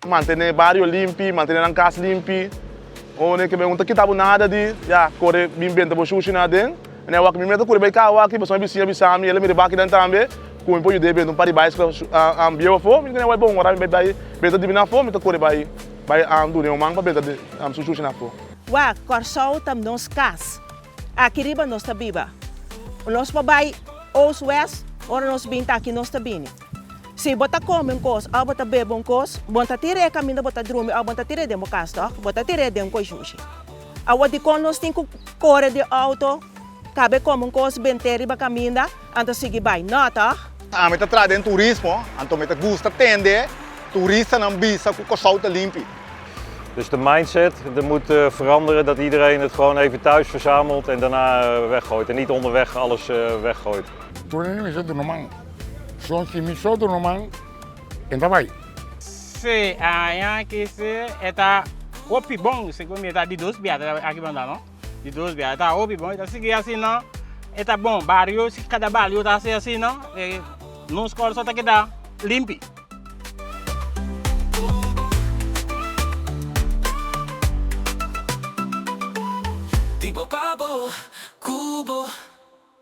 Mantené bario limpi, mantené nan kas limpi. One ku un ta kita bo nada di ya kore bin benta bo shushi na aden. Mene awak mi mester kuri bai kau aki pasobra mi bisiña a bisa mi, el a mira bak akinan tambe ku mi por yud'é benta un par di bicycle bieu afó. Mi mene awor bon, ora mi bai benta dibi na afó mi ta kore bai duna un man pa benta su shushi na afó. Wak, Kòrsou ta nos kas. Aki riba nos ta biba. Nos por bai Oost West, ora nos bin ta aki nos ta bini. Si bo ta kome un kos òf bo ta bebe un kos, bo ta tir'é kaminda bo ta drumi òf bo ta tir'é den bo kas tòg? Bo ta tir'é den un koishushi. Awor dikon nos tin ku kore di outo, kab'é kome un kos, bent'é riba kaminda? Anto sigui bai nota. Ami ta traha den turismo, anto mi ta gusta tende turistanan bisa ku Kòrsou ta limpi. Dus de mindset de mut veranderen dat iedereen het gewoon even thuis verzamelt en daarna weggooit en niet onderweg alles weggooit. Tur ene mester duna man. Son si mi so duna man, e ta bai. Sí, aña aki sí e ta hopi bon, segun mi e ta di dos biaha aki banda no. Di dos biaha e ta hopi bon, e ta sigui asina e ta bon. Bario, si kada bario ta hasi asina e nos Córso ta keda limpi. Di bo pa bo, cu bo.